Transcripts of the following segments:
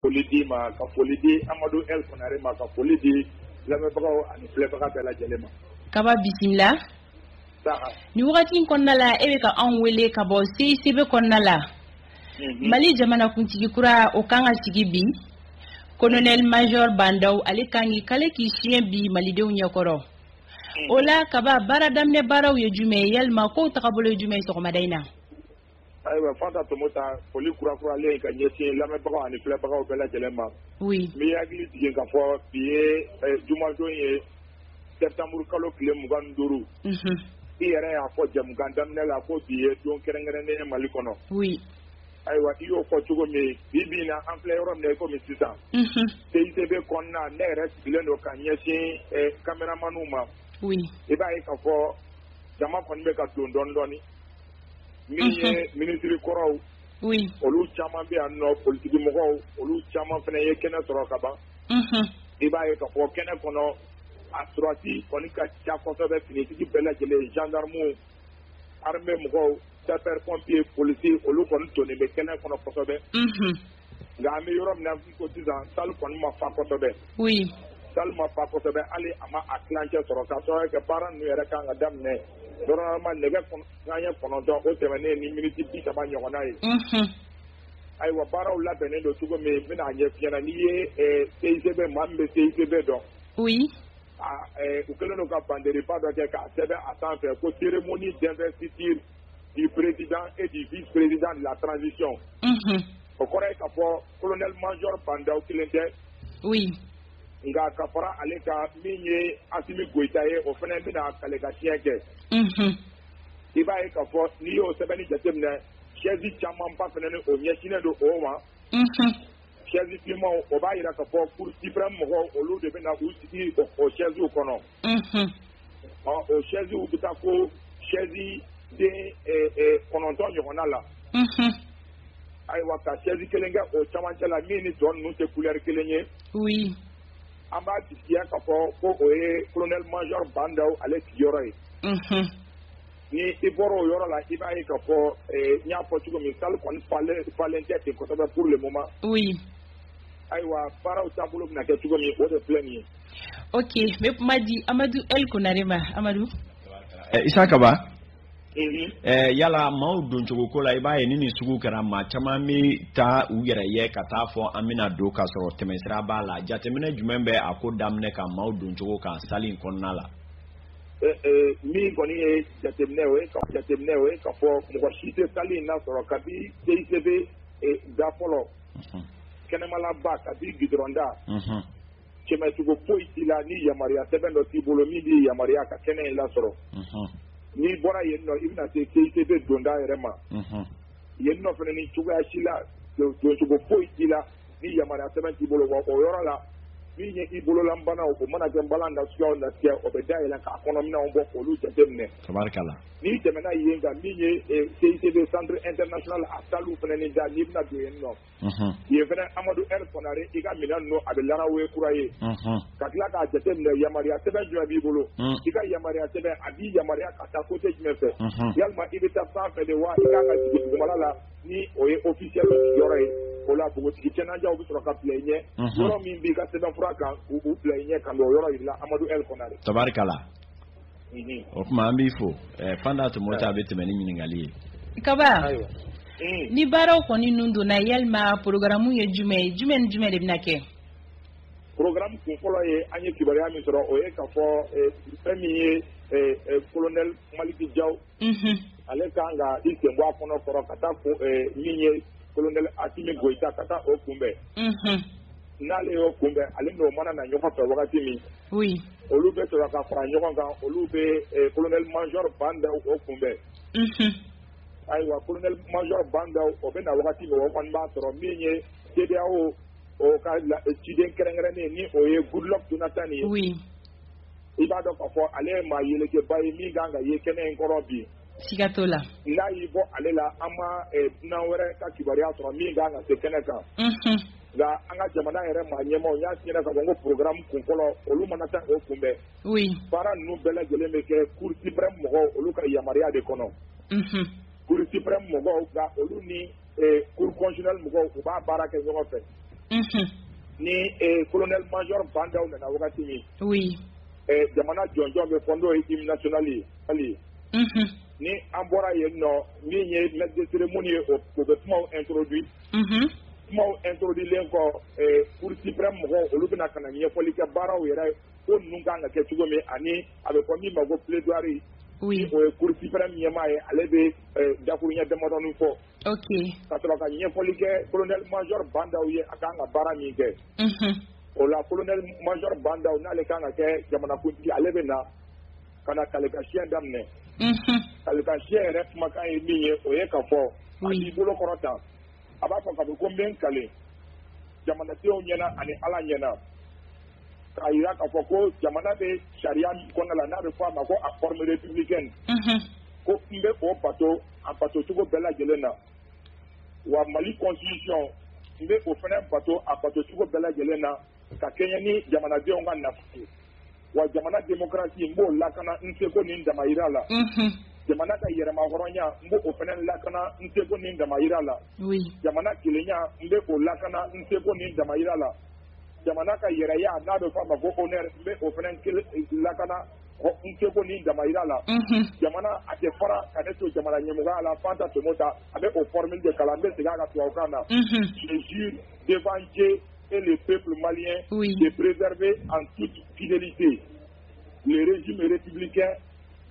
foli di ma ka foli di amadu el kɔnare ma ka foli di lamɛnbagaw ani filɛbaga bɛɛ lajɛlen ma kaba bisimila ni wagati in kɔnɔna la e bɛ ka anw wele ka bɔ seisebe kɔnɔna la mhm. mali jamanakuntigi kura o kan ka sigi bi kolonɛli major ba ndaw ale kan k'i kale k'i siɲɛ bi malidenw ɲɛkɔrɔ mhm. o la kaba baara daminɛ baaraw ye jumɛn ye walima kow tagabolo ye jumɛn ye sɔgɔmada in na Ayiwa Fanta Tomota foli kurakuralen ka ɲɛsin lamɛnbagaw ani filɛbagaw bɛɛ lajɛlen ma n b'i hakili jigin ka fɔ bi ye jumadon ye sɛtanburukalo tile mugan ni duuru i yɛrɛ y'a fɔ jɛmukan daminɛ la ko bi ye don kɛrɛnkɛrɛnnen ye mali kɔnɔ ayiwa i y'o fɔ cogo min bi bi na an filɛ yɔrɔ min na i komi sisan seisebe kɔnɔna ne yɛrɛ sigilen don ka ɲɛsin kameramanw ma i b'a ye ka fɔ jama kɔni bɛ ka don dɔɔni dɔɔni min ye minisiri kɔrɔw olu caman bɛ yan nɔ politikimɔgɔw olu caman fana ye kɛnɛ sɔrɔ ka ban i b'a ye ka fɔ kɛnɛ kɔnɔ a sɔrɔdasi kɔni ka ca kosɛbɛ finitigi bɛɛ lajɛlen zandarimu arime mɔgɔw sapɛri pɔnpiye polisiye olu kɔni tonnen bɛ kɛnɛ kɔnɔ kosɛbɛ nka an bɛ yɔrɔ min na i ko sisan salle kɔni ma fa kosɛbɛ, oui, salle ma fa kosɛbɛ hali a ma a tilancɛ sɔrɔ k'a sababu kɛ baara ninnu yɛrɛ ka kan ka daminɛ normalement nɛgɛ kanɲɛ kɔnɔntɔn o tɛmɛnen ni miniti bi saba ɲɔgɔnna ye, unhun, ayiwa baaraw labɛnnen don cogo min n bɛna a ɲɛf'i ɲɛna n'i ye eh, CICB maa min bɛ CICB dɔn, oui, a eh, u kɛlen don ka bandereba dɔ kɛ k'a sɛbɛn a sanfɛ ko cérémonie d'investiture du président et du vice-président de la transition. Unhun. O kɔrɔ ye k'a fɔ colonel major Ba Ndaw kelen tɛ. Oui. Nka ka fara ale kan min ye Asimi Goyita ye, o fana bɛna kale ka siɲɛ kɛ. Unhun. I b'a ye k'a fɔ n'i y'o sɛbɛnni jateminɛ, chaise camanba fana ni o ɲɛsinnen don o ma. Unhun. Chaise finmanw o b'a jira k'a fɔ cour suprême mɔgɔw olu de bɛna u sigi o chaisew kɔnɔ. unhun, ɔ o sɛziw bɛ taa ko sɛzi den ɛ, ɛ, kɔnɔntɔn ɲɔgɔnna la unhun, ayiwa ka sɛzi kelen kɛ o camancɛ la min ni tɔ ninnu tɛ kulɛri kelen ye oui, an b'a jigiya k'a fɔ ko o ye kolonɛli majɔri ba ndaw ale sigiyɔrɔ ye unhun, ni i bɔra o yɔrɔ la i b'a ye k'a fɔ ɛ, n y'a fɔ cogo min sali kɔni falen falen tɛ ten kosɛbɛ pour le moment oui, Ayiwa baaraw taabolo bɛna kɛ cogo min o de filɛ nin ye ok n bɛ kuma di Amadu L. Konare ma Amadu. Ɛ Isa Kaba. Unhun. Ɛ yala maaw doncogo ko la i b'a ye ni nin sugu kɛra maa caman bɛ taa u yɛrɛ ye ka taa fɔ an bɛna don ka sɔrɔ tɛmɛsira b'a la jateminɛ jumɛn bɛ a ko daminɛ ka maaw doncogo kan salle in kɔnɔna la. Ɛ ɛ min kɔni ye jateminɛ o ye ka jateminɛ o ye ka fɔ mɔgɔ si tɛ salle in lasɔrɔ kabi CICB da fɔlɔ kɛnɛmalaba kabi gudɔrɔn da tɛmɛcogo foyi t'i la ni yamaruya sɛbɛn dɔ t'i bolo min b'i yamaruya ka kɛnɛ in lasɔrɔ n'i bɔra yen nɔ i bɛna se CICB donda yɛrɛ ma yen nɔ fana ni cogoya si la doncogo foyi t'i la ni yamaruya sɛbɛn t'i bolo wa o yɔrɔ la min ye i bololanbanaw o mana kɛ nbalan nasuguyaw nasiya o bɛ dayɛlɛ k'a kɔnɔminɛnw bɔ k'olu jate minɛ n'i tɛmɛna yen kan min ye CICB centre international a salle fana ni da n'i bɛna don yen nɔ yen fana Amadu L Konare i ka minɛn ninnu a bɛ Larawe kura ye ka tila k'a jateminɛ yamaruya sɛbɛn jumɛn b'i bolo i ka yamaruya sɛbɛn a b'i yamaruya ka taa côté jumɛn fɛ yalima i bɛ taa sanfɛ de wa i kan ka jigin dugumala la ni o ye officiel sigiyɔrɔ ye o la npogotigi cɛnanjɛw bɛ sɔrɔ ka bila i ɲɛ yɔrɔ min b'i ka sɛbɛnfura kan u bila i ɲɛ ka n'o yɔrɔ jira i la Amadu L Konare tabarikala. o kuma an b'i fo Fanta Tomota a bɛ tɛmɛ ni ɲininkali ye kaba ni baaraw kɔni ninnu donna yalima porokaramu ye jumɛn ye jumɛn ni jumɛn de bɛna kɛ porokaramu kun fɔlɔ ye an ye kibaruya min sɔrɔ o ye ka fɔ fɛn min ye kolonɛli maliki jaw ale kan ka i sen bɔ a kɔnɔ kɔrɔ ka taa min ye kolonɛli asimi goyita ka taa o kunbɛn n'ale y'o kunbɛn ale n'o mana na ɲɔgɔn fɛ wagati min olu bɛ sɔrɔ ka fara ɲɔgɔn kan olu bɛ kolonɛli majɔ bandaw o kunbɛn ayiwa kolonɛli majɔ bandaw o bɛ na wagati min o kɔni b'a sɔrɔ min ye CEDEAO o ka ciden kɛrɛnkɛrɛnnen ni o ye Goodluck Jonathan ye i b'a dɔn k'a fɔ ale ye maa yelekɛba ye min kan ka ye kɛnɛ in kɔrɔ bi siga t'o la n'a y'i bɔ ale la an ma eh, dunan wɛrɛ ka kibaruya sɔrɔ min kan ka se kɛnɛ kan Mhm. nka an ka jamana yɛrɛ maa ɲɛmaw n y'a f'i ɲɛna ka fɔ n ko programme kun fɔlɔ olu mana taa o kunbɛn oui baara ninnu bɛɛ lajɛlen bɛ kɛ cour suprême mɔgɔw olu ka yamaruya de kɔnɔ Mhm. cour suprême mɔgɔw nka olu ni cour constitutionnelle mɔgɔw u b'a baara kɛ ɲɔgɔn fɛ ni kolonɛli majɔ bandaw nana wagati min jamana jɔnjɔn bɛ fɔ n'o ye hymne national ye ni an bɔra yen nɔ min ye maître de cérémonie ye o bɛ kumaw introduit kumaw introduitlen kɔ cour suprême mɔgɔw olu bɛ na ka na ɲɛfɔli kɛ baaraw yɛrɛ ko ninnu kan ka kɛ cogo min ani a bɛ fɔ min ma ko plaidoirie o ye cour suprême ɲɛmaa ye ale bɛ dakuruɲɛ damadɔnin fɔ ka sɔrɔ ka ɲɛfɔli kɛ kolonɛli mazori bandaw ye a kan ka baara min kɛ o la kolonɛli mazori bandaw n'ale kan ka kɛ jamanakuntigi ale bɛ na ka na kale ka siyɛn daminɛ kale ka siyɛn yɛrɛ kumakan ye min ye o ye ka fɔ a b'i bolo kɔrɔta a b'a fɔ ka fɔ ko n bɛ n kale jamanadenw ɲɛna ani ala ɲɛna k'a jira k'a fɔ ko jamana bɛ sariya min kɔnɔna la n'a bɛ fɔ a ma ko a forme républicaine ko n bɛ o bato a bato cogo bɛɛ lajɛlen na wa Mali constitution n bɛ o fana bato a bato cogo bɛɛ lajɛlen na ka kɛɲɛ ni jamanadenw ka nafa ye wa jamana démocratie n b'o lakana n seko ni n damayira la jamana ka yɛrɛmahɔrɔnya n b'o fana lakana n seko ni n damayira la jamana kelenya n bɛ o lakana n seko ni n damayira la. jamana ka yɛrɛ ye a n'a bɛ fɔ a ma ko o bɛ o fana lakana n tɛ ko ni dama jira la jamana a tɛ fara ka ne to jamana ɲɛmɔgɔ la fanta tomo ta a bɛ o fɔra min de kalan an bɛ segin a ka tubabu kan na sisi denfase e de pe mali ye perezrive an tu fidelite ji miiritibi kɛ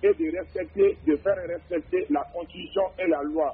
e de yɛrɛ fɛnte de fɛn yɛrɛ fɛnte la kɔnsi e la lwa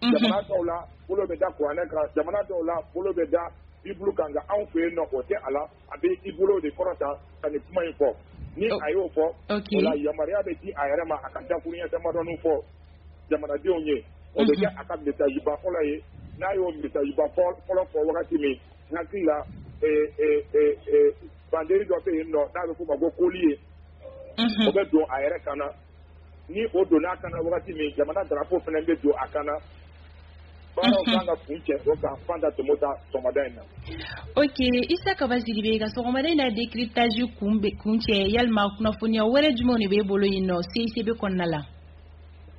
jamana dɔw la bolo bɛ da kuranɛ kan jamana dɔw la bolo bɛ da Bible kan nka anw fɛ yen nɔ o tɛ a la a bɛ i bolo de kɔrɔta ka nin kuma in fɔ ni oh. a y'o fɔ o la yamaruya bɛ di a yɛrɛ ma a ka dakuruɲɛ damadɔni fɔ jamanadenw ye o bɛ mhm. kɛ a ka message ba fɔlɔ ye n'a y'o message ba fɔlɔ fɔ wagati min n hakili la banderi dɔ bɛ yen nɔ n'a bɛ f'o ma ko collier ye mhm. o bɛ don a yɛrɛ kan na ni o donna a kan na wagati min jamana drapeau fana bɛ don a kan na baaraw mhm. kan ka kuncɛ o kan Fanta Tomota sɔgɔmada in na. ok Issa Kaba Sidibé ka sɔgɔmada in na décryptage kuncɛ yalima kunnafoniya wɛrɛ jumɛnw de b'e bolo yen nɔ CICB kɔnɔna la.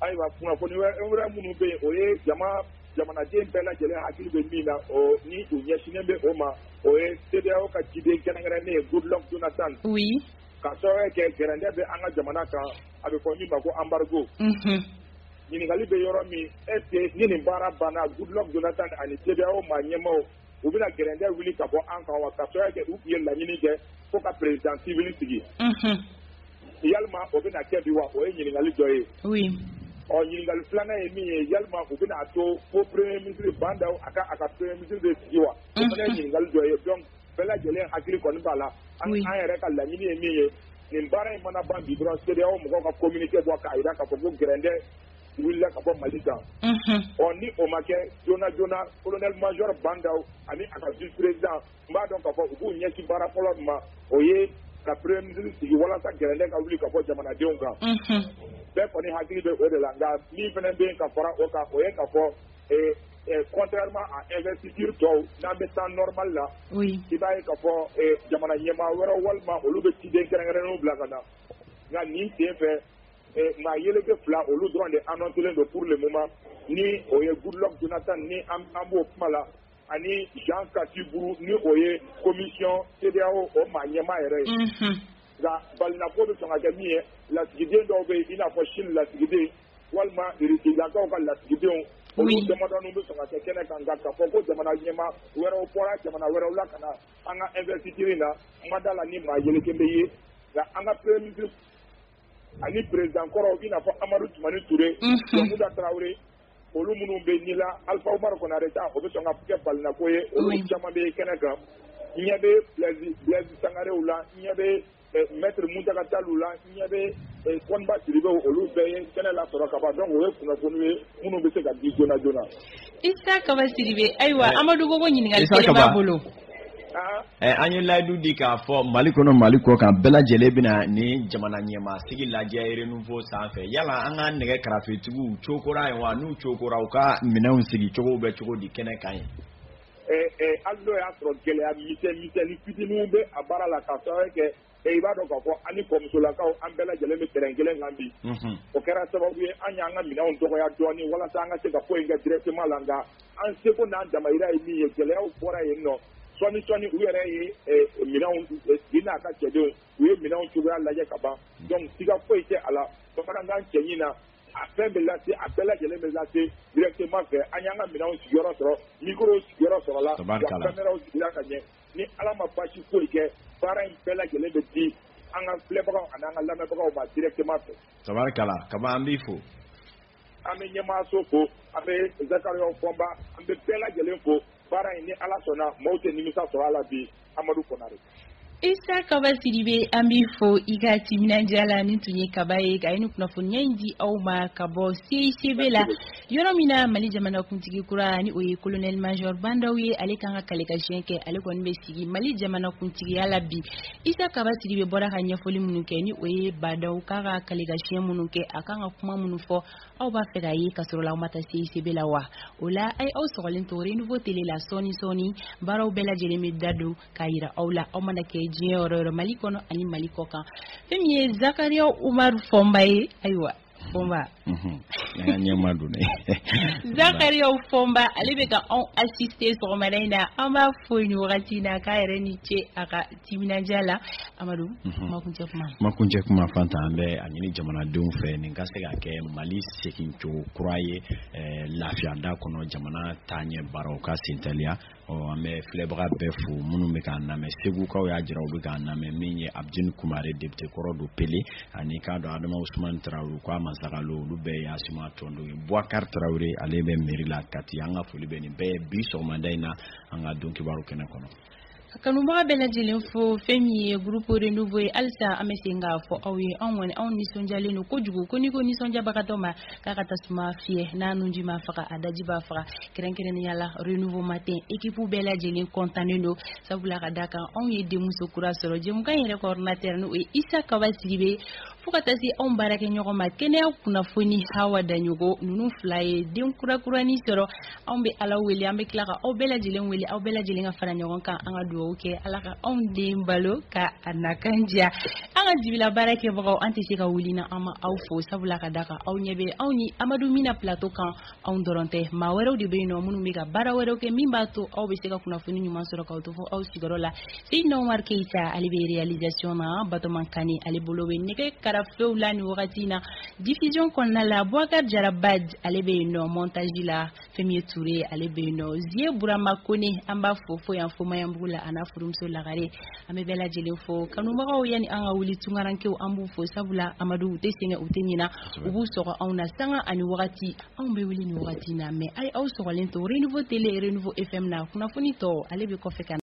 ayiwa kunnafoni wɛrɛ minnu bɛ yen o ye jama jamanaden bɛɛ lajɛlen hakili bɛ min na o ni u ɲɛsinnen bɛ o ma o ye CEDEAO ka ciden kɛrɛnkɛrɛnnen ye Goodluck Jonathan. oui. ka sababuya kɛ gɛrɛntɛ bɛ an ka jamana kan a bɛ fɔ min ma ko embargo ɲininkali bɛ yɔrɔ min est ce que ni nin baara banna Goodluck Jonathan ani CEDEAO maa ɲɛmaaw u bɛna gɛrɛntɛ wuli ka bɔ an kan wa ka sababuya kɛ u tun ye laɲini kɛ fo ka président civil sigi yalima o bɛna kɛ bi wa o ye ɲininkali dɔ ye ɔ ɲininkali filanan ye min ye yalima u bɛna a to fo premier ministre Bah N'Daw a ka a ka premier ministre de sigi wa o fana ye ɲininkali dɔ ye donc Bɛɛ lajɛlen hakili kɔni b'a la an yɛrɛ ka laɲini ye min ye nin baara in mana ban bi dɔrɔn CEDEAO mɔgɔw ka communiqué bɔ k'a jira k'a fɔ ko gɛrɛndɛ wulila ka bɔ Mali kan, unhun, ɔ ni o ma kɛ joona joona colonel major Bah N'Daw ani a ka vice président n b'a dɔn k'a fɔ u b'u ɲɛsin baara fɔlɔ min ma o ye ka premier ministre sigi walasa gɛrɛndɛ ka wuli ka bɔ jamanadenw kan, unhun, bɛɛ kɔni hakili bɛ o de la nka min fana bɛ yen ka fara o kan o ye ka fɔ contrairement à investiture tɔw n'an bɛ temps normal la i b'a ye k'a fɔ jamana ɲɛmaa wɛrɛw walima olu bɛ ciden kɛrɛnkɛrɛnnenw bila ka na nka nin sen fɛ maa yeleke fila olu dɔrɔn de annoncelen don pour le moment ni o ye Goodluck Jonathan ni an b'o kuma la ani Jean Kassi Brou ni o ye commission CEDEAO o maa ɲɛmaa yɛrɛ ye nka balinako bɛ sɔn ka kɛ min ye lasigiden dɔw bɛ yen i n'a fɔ Chine lasigiden walima Irisilakaw ka lasigidenw olu damadɔni bɛ sɔn ka kɛ kɛnɛ kan nka k'a fɔ ko jamana ɲɛmaa wɛrɛw bɔra jamana wɛrɛw la ka na an ka investiture in na n ma da la ni maa yeleke bɛ ye nka an ka premier ministre ani président kɔrɔw i n'a fɔ Amadu Tumani Ture Jɔnkunda Tarawele olu minnu bɛ ni la Alpha Umaru Kɔnare ta o bɛ sɔn ka kɛ balinako ye olu caman bɛ kɛnɛ kan n ɲɛ bɛ Blaise Sangarew la n ɲɛ bɛ Maitre Muntaka Tall u la n ɲɛ bɛ Koniba Sidibe olu bɛɛ ye kɛnɛ lasɔrɔ ka ban donc o ye kunnafoniw ye minnu bɛ se ka di joona joona. Isa Kaba Sidibe ayiwa Amadu ko ko ɲininkali kelen b'a bolo. Isa Kaba, ɛ an ye layidu di k'a fɔ Mali kɔnɔ Mali kɔkan bɛɛ lajɛlen bɛna nin jamana ɲɛmaasigi lajɛ renouveau sanfɛ yala an ka nɛgɛ karafetigiw cokora yen wa n'u cokora u ka minɛnw sigicogow bɛ cogo di kɛnɛ kan yen hali n'o y'a sɔrɔ gɛlɛya misɛnnin fitininw bɛ a baara la k'a sababu kɛ i b'a dɔn k'a fɔ ani kɔmusolakaw an bɛɛ lajɛlen bɛ terrain kelen kan bi o kɛra sababu ye an y'an ka minɛnw dɔgɔya dɔɔnin walasa an ka se ka foyi in kɛ directement la nka an seko n'an damayira ye min ye gɛlɛyaw bɔra yen nɔ sɔɔni sɔɔni u yɛrɛ ye minɛnw bi n'a ka cɛdenw u ye minɛnw cogoya lajɛ ka ban donc siga foyi tɛ a la bamanankan cɛɲi na a fɛn bɛ lase a bɛɛ lajɛlen bɛ lase directement fɛ an y'an ka minɛnw sigiyɔrɔ sɔrɔ micro sigiyɔrɔ sɔrɔla wa cameraw sigira ka ɲɛ ni Ala ma basi foyi kɛ baara in bɛɛ lajɛlen bɛ di an ka filɛbagaw ani an ka lamɛnbagaw ma directement fɛ tabarikala kaba an b'i fo an bɛ ɲɛmaaso fo an bɛ Zakariaw Fɔnba an bɛ bɛɛ lajɛlen fo baara in ni Ala sɔnna maaw tɛ nimisa sɔrɔ a la bi Amadu Kɔnare. Isa Kaba Sidibe an b'i fo i ka timinandiya la nin tun ye Kaba ye ka nin kunnafoniya in di aw ma ka bɔ CICB la yɔrɔ min na Mali jamanakuntigi kura ni o ye colonel major Bandaw ye ale kan ka kale ka siɲɛ kɛ ale kɔni bɛ sigi Mali jamanakuntigiya la bi Isa Kaba Sidibe bɔra ka ɲɛfɔli minnu kɛ ni o ye Bandaw kan ka kale ka siɲɛ minnu kɛ a kan ka kuma minnu fɔ aw b'a fɛ k'a ye ka sɔrɔ la aw ma taa CICB la wa? O la a ye aw sɔgɔlen to Renouveau Tele la sɔɔni sɔɔni baaraw bɛɛ lajɛlen bɛ da don k'a yira aw la aw mana kɛ diɲɛ yɔrɔ yɔrɔ Mali kɔnɔ ani Mali kɔkan fɛn min ye Zakaria Umaru Fɔnba ye ayiwa Fɔnba ɲɛmaa don. Zakaria Fɔnba ale bɛ ka anw assister sɔgɔmada in na an b'a fo nin wagati in na k'a yɛrɛ ni ce a ka Timinandiya la Amadu, unhun, kumakuncɛ kuma, kumakuncɛ kuma Fanta an bɛ a ɲini jamanadenw fɛ nin ka se ka kɛ Mali segin cogo kura ye ɛ lafiya da kɔnɔ jamana taaɲɛ baaraw ka sentɛliya, ɔ an bɛ filɛbaga bɛɛ fo minnu bɛ k'an lamɛn segukaw y'a jira u bɛ k'an lamɛn min ye Abdine Kumare député kɔrɔ don Pele ani k'a dɔn Adama Usumani Tarawele k'a Masakalo olu bɛɛ ye Asima tɔndenw ye Bubakari Tarawele ale bɛ mairie la Kati an ka foli bɛ nin bɛɛ ye bi sɔgɔmada in na an ka don kibaru kɛnɛ kɔnɔ Kanubaga bɛɛ lajɛlen fo fɛn min ye groupe renouveau ye halisa an bɛ se k'a fɔ aw ye anw kɔni anw nisɔndiyalen don kojugu ko n'i ko nisɔndiyabagatɔ ma k'a ka tasuma fiyɛ n'a nunji m'a faga a daji b'a faga kɛrɛnkɛrɛnnenya la renouveau matin équipe bɛɛ lajɛlen kɔntannen don sabula ka da kan anw ye denmuso kura sɔrɔ jɛmukan yɛrɛ coordinateur n'o ye Isa Kaba Sidibe Fo ka taa se anw baarakɛ ɲɔgɔn ma kɛnɛya kunnafoni Hawa Daɲɔgɔ ninnu fila ye den kurakuranin sɔrɔ anw bɛ ala wele an bɛ tila ka aw bɛɛ lajɛlen wele aw bɛɛ lajɛlen ka fara ɲɔgɔn kan an ka dugawu kɛ ala ka anw den balo ka a nakan diya an ka dibi la baarakɛbagaw an tɛ se ka wuli na an ma aw fo sabula ka da kan aw ɲɛ bɛ anw ni amadu min na platɔ kan anw dɔrɔn tɛ maa wɛrɛw de bɛ yen nɔ minnu bɛ ka baara wɛrɛw kɛ min b'a to aw bɛ se ka kunnafoni ɲuman sɔrɔ k'aw to fo aw sigiyɔrɔ la Seydina Umaru Keyita ale bɛ réalisation na Batoma Kane ale bolo bɛ nɛgɛ karafew la nin wagati in na diffusion kɔnɔna la Bubakari Jara Baj ale bɛ yen nɔ montage la fɛn min ye Ture ye ale bɛ yen nɔ Zie Burama Kone an b'a fo fo yan fo Maɲanbugu la a n'a furumuso Lagare An bɛ bɛɛ lajɛlen fo kanubagaw yanni an ka wuli tunkarankew an b'u fo sabula Amadu u tɛ sɛgɛn u tɛ ɲina u b'u sɔgɔ anw na sanga ani wagati anw bɛ wuli nin wagati in na mais a ye aw sɔgɔlen to renouveau tele renouveau FM na kunnafoni tɔ ale bɛ kɔfɛ ka na